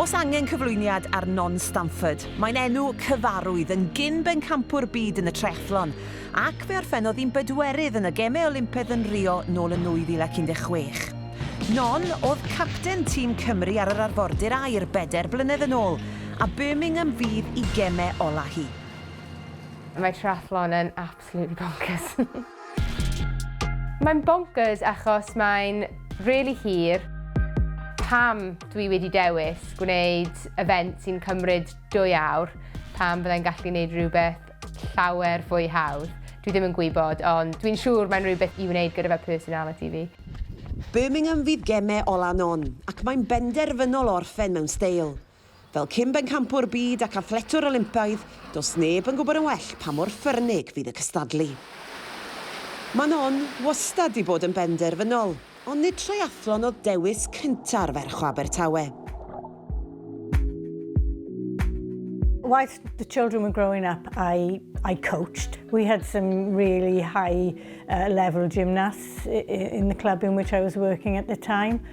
Os angen cyflwyniad ar Non Stamford, mae'n enw cyfarwydd yn gyn-bencampwr byd yn y triathlon, ac fe orffennodd hi'n bedwerydd yn y Gemau Olympaidd yn Rio nôl yn 2016. Non oedd capten tîm Cymru ar yr arfordir aer bedair blynedd yn ôl, a Birmingham fydd i gemau ola hi. Mae triathlon yn Absolutely bonkers. Mae'n bonkers achos mae'n really hir. Pam dwi wedi dewis gwneud event sy'n cymryd dwy awr pan byddai'n gallu gwneud rhywbeth llawer fwy hawdd. Dwi ddim yn gwybod, ond dwi'n siŵr mae'n rhywbeth i wneud gyda fy personality fi. Birmingham fydd gemau ola non, ac mae'n benderfynol o orffen mewn steil. Fel cyn-bencampwr byd ac athletwr Olympaidd, does neb yn gwybod yn well pa mor ffyrnig fydd y cystadlu. Manon wastad 'di bod yn benderfynol, ond nid triathlon oedd dewis cynta'r ferch o Abertawe. Whilst the children were growing up, I, I coached. We had some really high uh, level gymnasts in the club in which I was working at the time.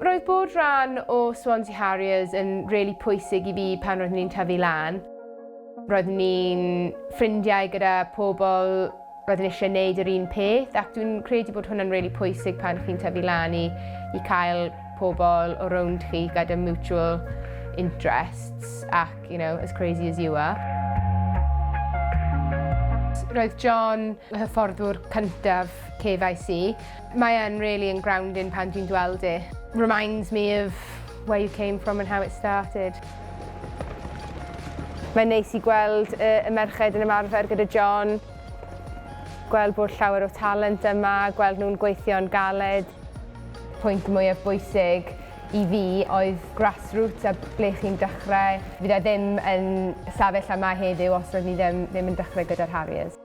Roedd bod rhan o Swansea Harriers yn rili pwysig i fi pan roeddwn i'n tyfu lan. Roeddwn ni'n ffrindiau gyda pobl, roeddwn ni eisiau gwneud yr un peth ac dwi'n credu bod hwnna'n rili pwysig pan chi'n tyfu lan i i cael pobl o rownd chi gyda mutual interests ac, you know, as crazy as you are. Roedd John y hyfforddwr cyntaf KYC. Mae e'n really yn grounding pan dwi'n gweld e. Reminds me of where you came from and how it started. Mae'n neis i gweld y, y merched yn ymarfer gyda John, gweld bod llawer o talent yma, gweld nhw'n gweithio'n galed. Pwynt mwyaf bwysig i fi oedd grassroots a ble chi'n dechrau. Fydd e ddim yn safell lle mae heddiw os roedd ni ddim, ddim yn dechrau gyda'r Harriers.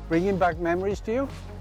Bringing back memories to you?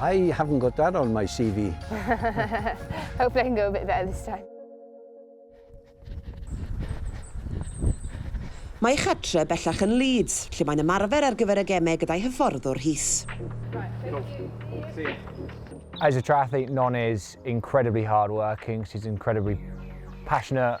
I haven't got that on my CV. Hopefully I can go a bit better this time. Mae ei chartre bellach yn Leeds, lle mae'n ymarfer ar gyfer y gemau gyda'i hyfforddwr Rhys. As a triathlete, Non is incredibly hard working, she's incredibly passionate,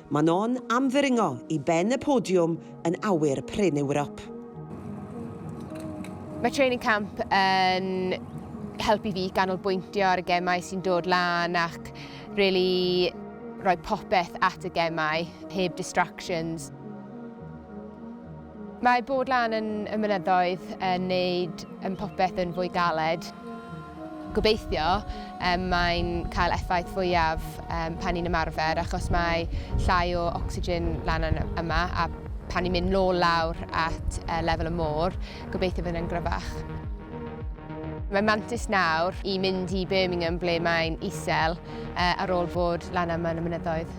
Manon am ddringo i ben y podiwm yn awyr prin Ewrop. Mae training camp yn helpu fi ganolbwyntio ar y gemau sy'n dod lan ac really rhoi popeth at y gemau, heb distractions. Mae bod lan yn y mynyddoedd yn neud yn popeth yn fwy galed. Gobeithio um, mae'n cael effaith fwyaf um, pan ni'n ymarfer achos mae llai o ocsigen lan yn yma a pan ni'n mynd nôl lawr at uh, lefel y môr, gobeithio fydd yn gryfach. Mae mantis nawr i mynd i Birmingham ble mae'n isel uh, ar ôl bod lan yma yn y mynyddoedd.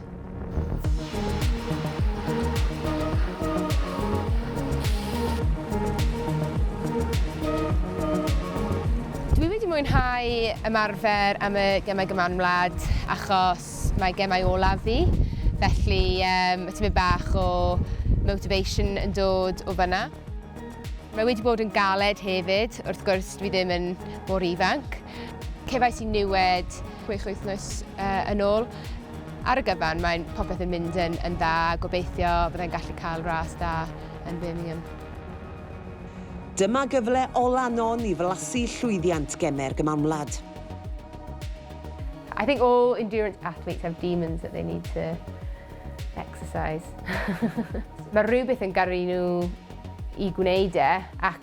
Dwi wedi mwynhau ymarfer am y Gemau Gymanwlad Wlad achos mae gemau olaf fi, felly um, mae tymyn bach o motivation yn dod o fyna. Mae wedi bod yn galed hefyd, wrth gwrs dwi ddim yn mor ifanc. Cefais i niwed chwech wythnos uh, yn ôl. Ar y gyfan, mae'n popeth yn mynd yn, yn dda, gobeithio byddai'n gallu cael ras da yn Birmingham. Dyma gyfle ola non i flasu llwyddiant gemer gymamlad. I think all endurance athletes have demons that they need to exercise. Mae rhywbeth yn garu nhw i gwneud e, ac